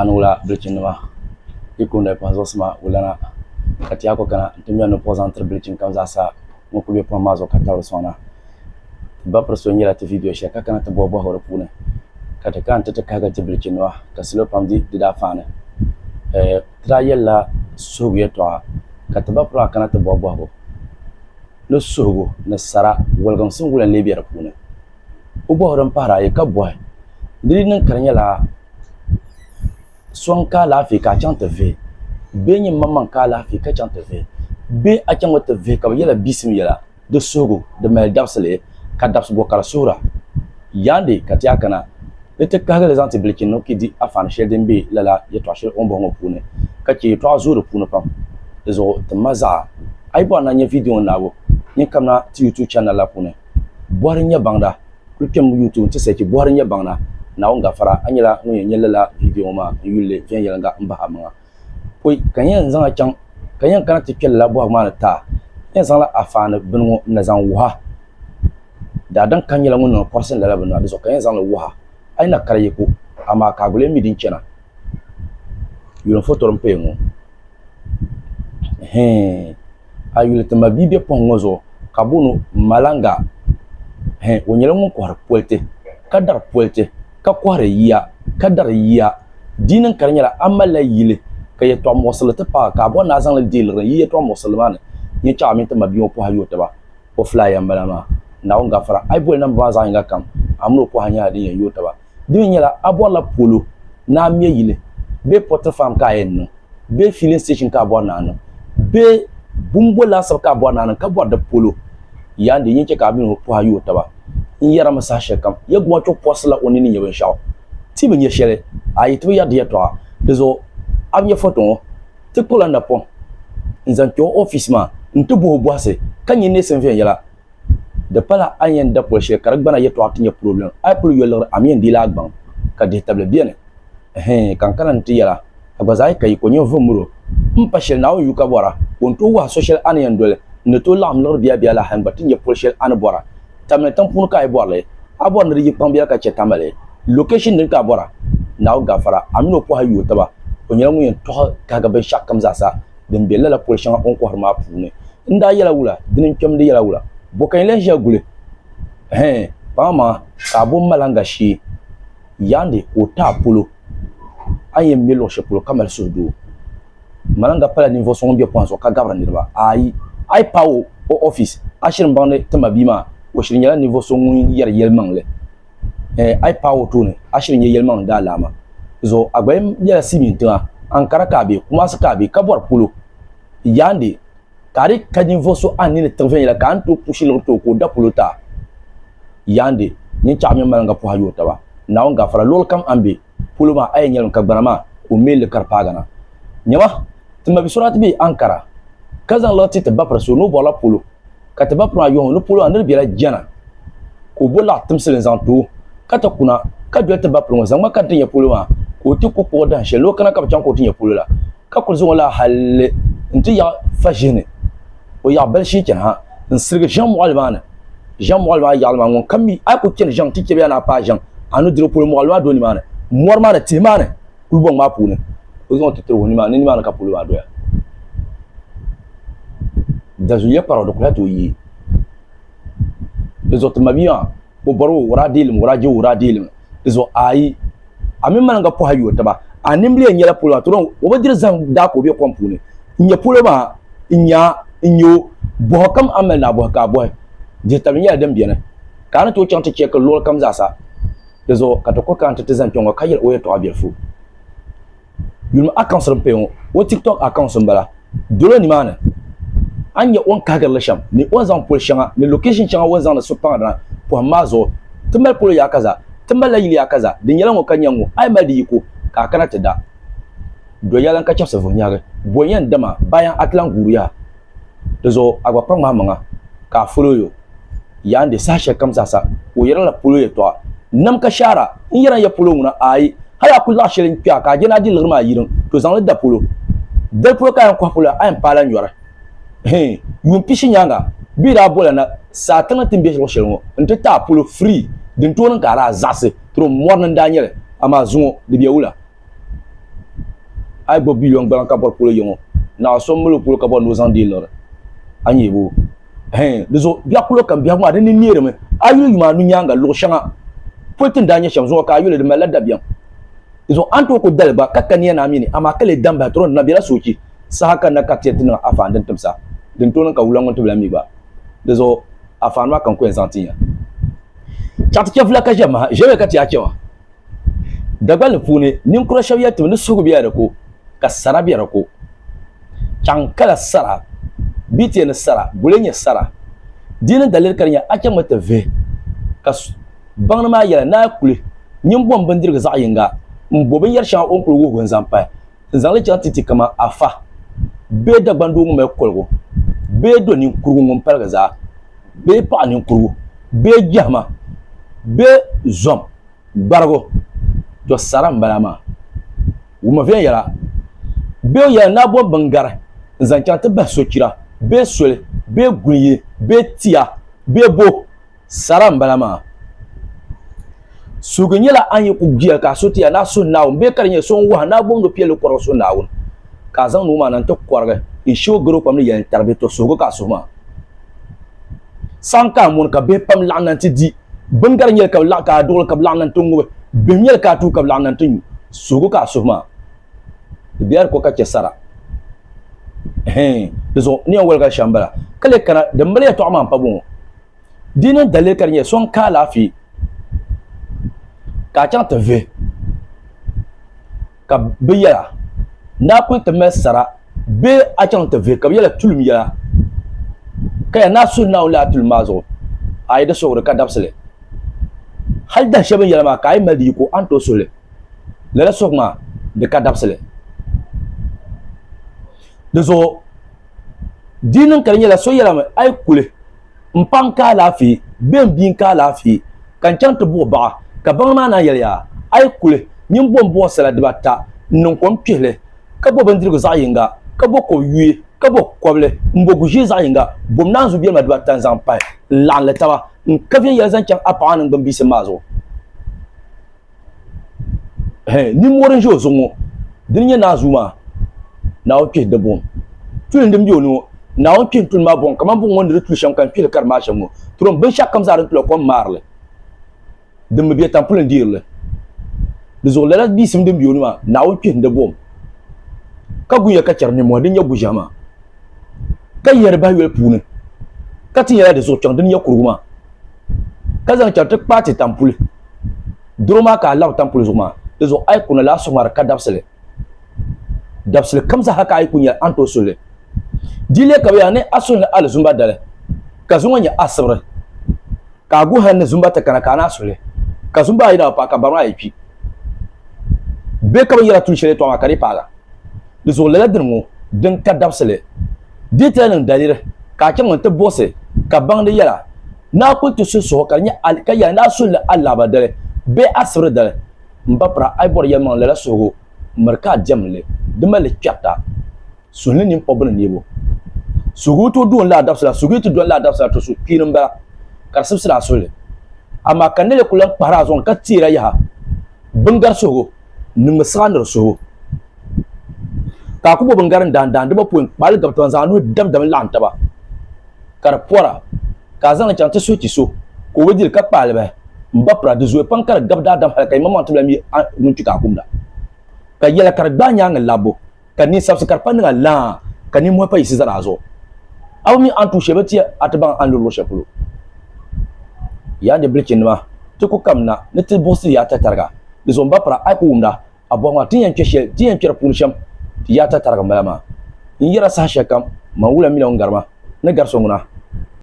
Anula bilichini nima yi kuli noli kpaŋ zuɣusi maa o lana ka ti yaa kuli kana n ti ŋmeri ninvuɣu zaŋ tiri bilichini kam zaa sa ŋun kuli be pohim maa zuɣu ka tabiri soŋda ti ba piri so nyela ti viidiyo sheli ka kana ti bohi bohi o di puuni ka ti kana ti ti kahigiri ti bilichini nima ka salo pam di di daa faani ti daa yelila suhigu yeltɔɣa ka ti ba piri maa kana ti bohi bohigu ni suhigu ni sara woliginsi n wula n lee be di puuni. o bɔhi o din pahiri ayi ka bɔhi, Di yi niŋ ka di nyɛla so n-ka alaafee ka a chaŋ ti vihi bee n-nyɛ m-maŋmaŋ ka alaafee ka chaŋ ti vihi bee a chaŋ mi ti vihi ka bɛ yɛla bisim yɛla di suhigu di mali dabisili ka dabisibo ka di suhira? Yaandi ka ti a kana ni ti kahigi li zaŋ ti bilichi ni o ki di afaani shɛli din be lala yɛtɔɣ shɛli o ni bɔhi ŋɔ puuni ka chɛ yɛtɔɣa zooi di puuni pam. Di zuɣu ti ma zaɣa. A yi bɔhiri ni a nya viidiyo ŋɔ naabu, nyin kamina ti YouTube chanɛl la puuni. Bɔhiri n-nyɛ baŋda kuli kpɛm n-yuui ti wum ti sɛchi Bɔhiri n-nyɛ baŋda Naawuni gafara a nyɛla ŋun yɛn nyɛ lala viidiyo ŋɔ maa n yuli li viɛnyɛliŋga m-bahi a maŋa poi ka n yɛn zaŋ a chaŋ ka yɛn kana ti kpe lala bɔhigu maa ni taa n yɛn zaŋla a faani bini ŋɔ n-na zaŋ wuhi a daadam ka n nyɛla ŋun niŋ kɔrisi lala bini maa di zuɣu ka yɛn zaŋ li wuhi a a yi na kari yiko amaa ka a guli yɛn mi din chana yuli n fotori m-paya ŋɔ. hɛɛn a yuli ti ma bia be pɔhim ŋɔ zuɣu ka booni o Malanga hɛɛn o nyɛla ŋun kɔhiri politi ka dari politi ka kɔhiri yiya ka dari yiya di yi niŋ ka di nyɛla a malila yili ka yɛtɔɣ muɣisiri ti paai ka a bɔri ni a zaŋli deei liɣiri n yi yɛtɔɣ muɣisiri maa ni nyɛ chaɣu a mini ti ma bia ŋɔ pɔhai yooi taba o filaaya m-bala maa Naawuni gafara a yi boli namba maa zaɣ yiŋga kam a mini o pɔhai nyɛla din yɛn yooi taba. Di mi nyɛla a bɔrila polo ni a me yili bee pottery farm ka a yɛn niŋ bee filling station ka a bɔri ni a niŋ bee bumbo laasabu ka a bɔri ni a niŋ ka bɔri di polo yaa n-di yin chɛ ka a mini o pɔha yooi taba. N yɛrimi saha shɛli kam Yɛguma chɔ pɔrisila o ni ni nya binshɛɣu. Ti bi nya shɛli a yi ti bi yɛri di yɛtɔɣa. Di zuɣu a bi nya foto ŋɔ? Ti kpuɣila n napɔŋ n-zaŋ kpe o ofiisi maa nti bɔh o bɔhisi ka nya neesim viɛnyɛla. Di pala a ni yɛn da pol shɛli ka di gbana yɛtɔɣa ti nyɛ purobilim, a yi kuli yo liɣiri a mi yɛn deei li a gbaŋ ka dihitabili beni. Ɛhɛin, ka n kana nti yɛl a, a gba zaa yi ka yi ko ninvuɣ miro, m pa shɛli Naawuni yu ka bɔra ka o ni tooi wɔhi so shɛli a ni yɛn doli, n ni tooi laɣim liɣiri biabia la hal n gba ti nya pol shɛli a ni bɔra. Tam ni tiŋ puuni ka a yi bɔri li, a bɔri ni di yi kpaŋ biɛla ka chɛ ka mali location din ka a bɔra. Naawuni gafara a mini o pɔha yuui taba, o nyɛla ŋun yɛn tɔɣi kahiga binshɛɣukam zaasa. din be lala pol shɛŋa o ni kɔhiri maa puuni. N daa yɛla wula? Dini n-kpɛm di yɛla wula? Bɔ ka yi lan ʒiya guli? Hɛɛn, paŋa maŋa ka a bo maliŋga shee yaandi ka o ti a polo a ni yɛn me luɣ shɛli polo ka mali suhudoo. Maliŋga pala ninvuɣ so ŋun be pɔhim zuɣu ka gabiri niriba. Aai! A yi paai o o ɔfis, a shiri m-baŋ ni ti mabia maa o shiri nyɛla ninvuɣ so ŋun yɛri yɛlimaŋli. eh, a yi paai o tooni a shiri nyɛ yɛlimaŋli daalaama zuɣu Agbayim nyɛla Siimiin tiŋa Ankara ka a be Kumasi ka a be ka bɔri polo Yaande ka a di ka ninvuɣu so a ni ni tiɣi viɛnyɛla ka a ni tooi puhi shiligu ti o ka o da polo ta Yaande nyinchɛɣu mini maliŋga puhi a yi o taba Naawuni gafara luɣuli kam a ni be polo maa a yɛn nyɛlim ka gbana maa ka o mɛlli ka di paagi na. Nyama, ti mabi so daa ti be Ankara ka zaŋ liɣi ti ti bapiri so ni o bɔrila polo ka ti bapiri maa yɔhi o ni polo maa ni di bela jana ka o bo laɣi timsili n zaŋ ti o ka ti kuna ka doli ti bapiri ŋɔ zaŋ ma ka di ti nyɛ polo maa ka o ti ku kpuɣi dahin shɛli ni o kana ka bi chaŋ ka o ti nyɛ polo la. ka kuli zaŋ o la halli n ti yaɣi fa ʒihi ni o yaɣi bali shii chani ha n sirigi ʒiɛŋ mɔɣili maa ni ʒiɛŋ mɔɣili maa yaɣili maa ŋun kam mi a ku chani ʒiɛŋ ti chɛbiya ni a paai ʒiɛŋ a ni diri polo mɔɣili maa do nimaani mɔri maa ni tihi maa ni kulibɔŋ maa puuni o zaŋ ti tiri o nimaani ni nimaani ka polo maa doya dazuliya kparaw di kuli tooi yi di zuɣu ti mabia maa o bɔri o wuraa deelim wuraa je wuraa deelim di zuɣu ayi a mini mani ka pɔha yuo taba a nimbili yɛn nyɛla polo maa tɔrɔ o bi diri zahim daa ka o be kom puuni n nyɛ polo maa n nya n nyɛ o bɔhi kam a mali naa bɔhi ka a bɔhi dihi tabili nyɛla din beni ka a ni tooi chaŋ ti chɛki luɣuli kam zaasa di zuɣu ka ti kuli kana ti ti zani kpɛŋɔ ka yɛli o yɛltɔɣa bilifu Yulimi accounts din paya ŋɔ o TikTok accounts n bala. Dolo nimaani a ni nya o ni kahigiri li shem ni o ni zaŋ poli sheŋa ni location sheŋa o ni zaŋdi suhupaŋdina pohim maa zuɣu. Ti mali polo yaa kaza, ti mali la yili yaa kaza, di nyela ŋɔ ka nya ŋɔ, a yi mali di yiko ka a kana ti da. Doya lan ka chebsi vuhi nyahigi, bonya n dama bayan a ti lan guuri yaha. Di zuɣu a gba kpa ŋmahimaŋa ka a fol o yo yaa n-di saha shɛlikam zaa sa. O yɛrila la polo yɛtɔɣa, N nam ka shaara, n yɛra n-ya polo ŋuna, aai, hal a ku laɣ shɛli n-kpe a ka a je ni a di liɣiri maa yiriŋ, to zaŋ li da polo. Dali polo ka a yɛn kɔhi polo a yɛn paai la nyɔri. Hii, yuun pishi nyaaŋa bɛ yi daa bol a na saa tiŋli ti ni be luɣ shɛli ŋɔ nti ti a polo free, dintooni ka a daa zaɣisi tiri o mɔri ni n daa nyɛ li, amaa zuŋɔ di bɛ wula? a yi gbubi biliyon gbana ka bɔri polo yiŋɔ naɣa so m-mali o polo ka bɔri ni o zaŋ deei lɔri a nyɛ bo hɛn di zuɣu biɛɣu kuli kam biɛhigu maa di ni neerimi a yuli yuma anu nyaaŋa luɣ shɛŋa pol ti ni daa nyɛ shɛm zuŋɔ ka a yuli di malila dabiɛm di zuɣu a ni tooi kuli dali gba ka kaniya ni a mi ni amaa ka lee dam bahi tɔro di na bela soochi saha ka n na ka ti yɛn ti niŋ a faani din tim sa din tooi niŋ ka wula ŋun tibila mi gba di zuɣu a faani maa ka n ku yɛn zaŋ ti ya chaŋ ti chɛ vula ka ʒe m maha ʒe bɛ ka ti yaa chɛ ma Dagbanli puuni ninkura shɛba yɛli ti mi ni suhigu bela di ko ka sara be di ko. Chaŋ kala sara bɛ ti yɛli ni sara guli n nyɛ sara. Di ni daliri ka di nyɛ a chaŋ mi ti vihi ka baŋdi maa yɛla ni a kuli nyin bom bindirigu zaɣ yinga m-bo binyɛri shɛŋa o ni kuli wuhigu n-zaŋ pahi N zaŋ li chaŋ ti ti kaman afa bee Dagbaŋ doo ŋun mali koligu bee do ninkurigu ŋun paligi zaa bee paɣ ninkurigu bee jɛhima bee zom gbarigu, to sara m-bala maa. Wumma viɛnyɛla bee o yɛla naa bom biŋgari n-zaŋ chaŋ ti bahi sochira bee soli bee guliyi bee tia bee bo. Sara n bala maa. Suhigi nyɛla an yi ku bia ka a so ti a ni a suhi Naawuni bee ka di nyɛ so n wahi ni a boŋdo piɛlli kɔrigi suhi Naawuni ka a zaŋ nuu maa na n-ti kɔrigi n shi o garo pam ni yɛli n-taribi to suhigu ka a suhi maa saɣim ka a mɔni ka bihi pam laɣim na nti di bini ka di nyɛli ka ka a duɣili ka bɛ laɣim na nti ŋubi bihim nyɛli ka a tuhi ka bɛ laɣim na nti nyu suhigu ka a suhi maa di biɛla di ko ka chɛ sara hɛɛn di zuɣu ni yɛn waligali shɛm bala ka lee kana din mali yɛtɔɣa maa m-pa bɔŋɔ Di ni dalili ka di nyɛ so n ka alaafee ka a chaŋ ti vihi ka bi yɛla n daa kuli ti mali sara bee a chaŋ ti vihi ka bi yɛla tulim yɛla ka yɛn naa suhi Naawuni laa tulim maa zuɣu a yi di suhuri ka dabisili hali dahin shɛli bin yɛla maa ka a yi mali di yiko a ni tooi suhili lala suhug maa di ka dabisili di zuɣu Di niŋ ka di nyɛla so yɛla mi, a yi kuli, m paŋ ka alaafee be m bia n ka alaafee ka n chaŋ ti buɣi baɣa. Ka baŋa maa naan yɛliya, A yi kuli, nyin bom buɣi sala dibata n-niŋ kom kpihi li, ka bo bindirigu zaɣ yiŋga, ka bo kob yuui, ka bo kobli m-bo gu ʒee zaɣ yiŋga, bom naanzuu biɛlima dibata n-zaŋ pahi n-laɣim li taba n-ka viɛnyɛla zaŋ chaŋ a paɣa ŋɔ niŋgbuŋ biisim maa zuɣu. nimmori n ʒe o zuɣu ŋɔ dini nyɛ naa zuu maa naawuni kpihiri di buɣim tulim din be o ni ŋɔ naawuni kpihiri tulim maa buɣim kamani buɣim ŋɔ ni di tu shɛm ka n kpihiri ka di maa shɛm ŋɔ turim binshɛɣu kam zaa di tula kom maarili din bi be tampuli n deerili di zuɣu lala biisim din be o ni maa naawuni kpihiri di buɣim ka guya ka chɛri nimmɔhi din nyɛ guʒiɛhi maa ka yɛri bahi yoli puuni ka ti yɛla di zuɣu kpɛŋ din nyɛ kurugu maa ka zaŋ chɛri ti kpaati tampuli doro maa ka a labi tampuli zuɣu maa di zuɣu a yi kuna laa suŋari ka dabisili dabisili kam zaaha ka a yi ku nyɛli a ni tooi suhili di yi leei ka bi yaa ni a suhi ni alizumba dali ka zuŋɔ nyɛ a sibiri ka a guhi ni zumba ti kana ka a naa suhili ka zumba ayi na bi paai ka bari maa yi kpi bee ka bi yɛla tuun shɛli yɛtɔɣa maa ka di yi paai la di zuɣu lala dini ŋɔ din ka dabisili detail niŋ daliri ka a chaŋ nti buɣisi ka baŋdi yɛla ni a kuli ti suhi suhu ka di nyɛ a ka yɛla ni a suhili a laɣiba dali bee a sibiri dali m ba pira a yi bɔri yɛlimaŋli lala suhigu miri ka a diɛmdi li di mali li kpɛrita suhi ni ninkpɔbbu ni neebu suhigu tooi doon lala dabisila suhigu yi ti doli lala dabisila to suhi kpiini m-bala ka di sibisiri a suhili amaa ka nɛli kuli lan kpahiri a zuɣu ni ka teeri a yaha biŋgari suhigu niŋmi siɣa nir suhibu. Ka a ku bo bingarin daandaan di bapoi n-kpaali gabi taba n-zaŋ a nuhi damdam laɣim taba ka di pɔra, ka a zaŋ li chaŋ ti suhi ti so ka o bi di li ka kpaali bahi m-ba pira. Di zooya pam ka di gabi daadam hal ka yimaŋmaŋ tibila mi a ŋun kpi ka a kumda. Ka yɛla ka di gbaai nyaaŋa labbu. ka di ni sabisi ka di pa niŋa laa ka ninmɔhi pa yiɣisi zaa zuɣu. A bi mi a ni tuui shɛli bi ti a ti baŋ a ni luri luɣ shɛli polo. Yaa ni bilichinima, ti ku kamina ni ti buɣisi yaa tatariga. Di zuɣu m ba pira a yi ku wumda a bɔhi maa ti ni yɛn kpe shɛli ti ni yɛn kpe di puuni shɛm ti yaa tatariga m bala maa. N yɛra saha shɛlikam man wula mi la ŋun gari ma ni gari so ŋuna.